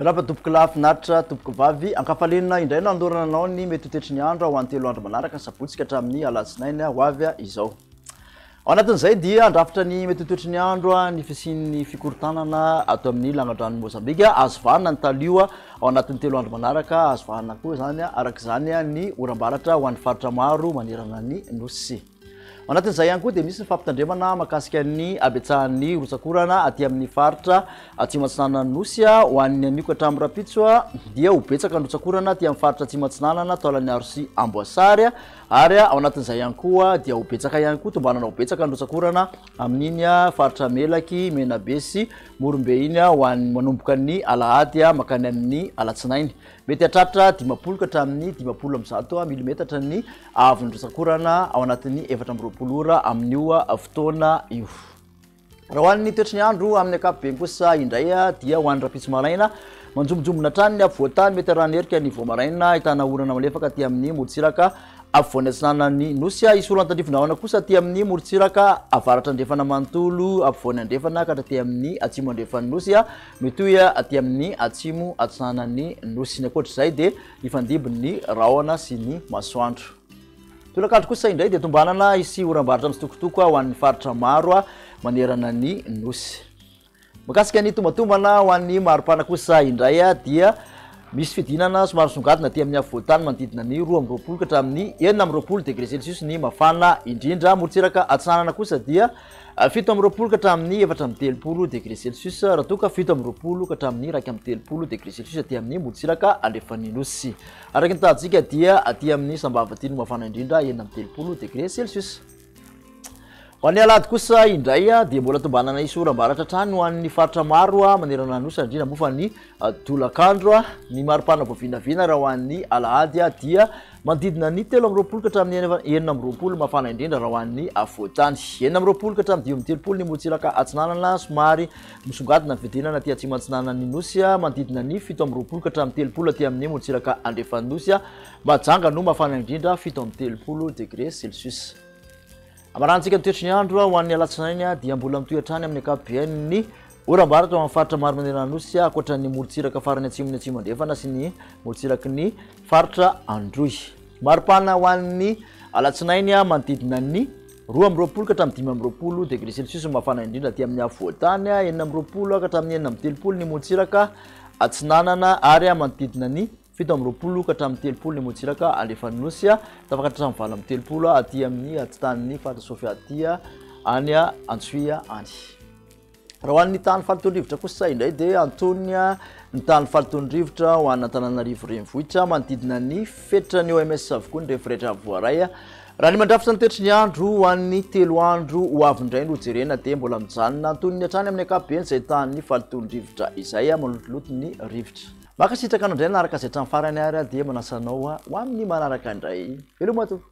Miarahaba tompoko lahy finaritra tompoko vavy ankafaliana indray no andorana anao ny mety ho tetry ny andro ho any telo andro manaraka ny sabotsy ka hatramin'ny alatsinainy ho avy izao Ao anatin'izay dia handrafitra ny mety ho toetry ny andro ny fisian'ny fikorontanana ato amin'ny langadranon'i Mozambika. Azo vanona ny talio ao anatin'ny telo andro manaraka. Azo vanona koa izany araka izany ny oram-baratra ho an'ny faritra maro manerana ny Nosy. Ao anatin'izay ihany koa dia misy ny fampitandremana mahakasika ny habetsahan'ny rotsak'orana aty amin'ny faritra Atsimo Atsinanan'ny Nosy. Ho an'ny anio ka hatramin'ny rahampitso dia ho betsaka ny rotsak'orana aty amin'ny faritra Atsimo Atsinanana, taolan'i Arosia, Amboasary. Ary ao anatin'izay ihany koa dia ho betsaka ihany koa, tombanana ho betsaka ny rotsak'orana amin'iny faritra Melaky, Menabe sy Morombe iny ho an'ny manomboka ny alahady mankany amin'ny alatsinainy. Mety hahatratra dimampolo ka hatramin'ny dimampolo amby zato milimetatra ny haavon'ny rotsak'orana ao anatin'ny efatra amby roapolo ora amin'io fotoana io. Raha ho an'ny toetry ny andro amin'ny ankapobeny kosa indray dia ho an'ny rahampitso maraina, manjombonjombona hatrany ny afovoantany, mety harahan'ny erika ny voamaraina, ahitana orana malefaka aty amin'ny morontsiraka afovoany atsinanan'ny Nosy. Hisy orana tandrify rahona kosa aty amin'ny morontsiraka avaratra andrefana manontolo afovoany andrefana ka hatraty amin'ny atsimo andrefan'ny Nosy, mitohy aty amin'ny atsimo atsinanan'ny Nosy. Ny ankoatr'izay dia hifandimby ny rahona sy ny masoandro. Tolakandro kosa indray dia tombanana hisy oram-barotra mitsitokotoko ho an'ny faritra maro manerana ny nosy. Mikasika ny tombatombana ho an'ny maripana kosa indray dia misy fidinana somary songadina aty amin'ny afovoantany manodidina ny roa amby roapolo ka hatramin'ny enina amby roapolo degré celsius ny mafana indrindra. Morontsiraka atsinanana kosa dia ah, fito amby roapolo ka hatramin'ny efatra amby telopolo degré celsius raha toa ka fito amby roapolo ka hatramin'ny iraika amby telopolo degré celsius aty amin'ny morontsiraka alefan'ny nosy. Araka ny tahantsika dia aty amin'ny sambava aty no mafana indrindra enina amby telopolo degré celsius. Ho an'ny alahady kosa indray dia mbola tombanana hisy oram-baratra hatrany ho an'ny faritra maro manerana nosy ary indrindra moa fa ny tolakandro. Ny maripana vao vinavina raha ho an'ny alahady dia manodidina ny telo amby roapolo ka hatramin'ny enina amby roapolo mafana indrindra raha ho an'ny afovoan-tany. Enina amby roapolo ka hatramin'ny dimy amby telopolo ny morontsiraka atsinanana somary Misongadina fiadenana aty atsimo-antsinanan'ny Nosy, manodidina ny fito amby roapolo ka hatramin'ny telopolo aty amin'ny morontsiraka andrefan'ny Nosy. Mahajanga no mafana indrindra, fito amby telopolo degre celsius. Amarahantsika ny toetry ny andro ho an'ny alatsinainy dia mbola mitohy hatrany amin'ny ankapobeny ny oram-baratra ho amin'ny faritra maro manerana ny Nosy, ankoatra ny morontsiraka farany atsimon'ny atsimo andrefana sy ny morontsiraky ny faritra Androy. Mari-pana ho an'ny alatsinainy, manodidina ny. Roa amby roapolo ka hatramin'ny dimy amby roapolo degré celsius ny mafana indrindra aty amin'ny afovoantany, enina amby roapolo ka hatramin'ny enina amby telopolo ny motsiraka atsinanana ary manodidina ny fito amby roapolo ka hatramin'ny telopolo ny motsiraka alefan'ny nosy, tafakatra hatramin'ny valo amby telopolo aty amin'ny atitanin'ny faritra Sofia aty any Antsohihy any. Raha ho an'ny tany faliton-drivotra kosa indray dia antonina ny tany faliton-drivotra ho an'Antananarivo Renivohitra, manodidina ny fetran'ny OMS avokoa ny referetra voaray. Raha ny mandrafitra ny toetry ny andro ho an'ny telo andro ho avy indray no jerena dia mbola mijanona antonony hatrany amin'ny ankapobeny izay tany faliton-drivotra izay, malotoloto ny rivotra. Mankasitraka anao indray nanaraka izay hatramin'ny farany ary dia manasa anao ho amin'ny manaraka indray. Veloma tompoko!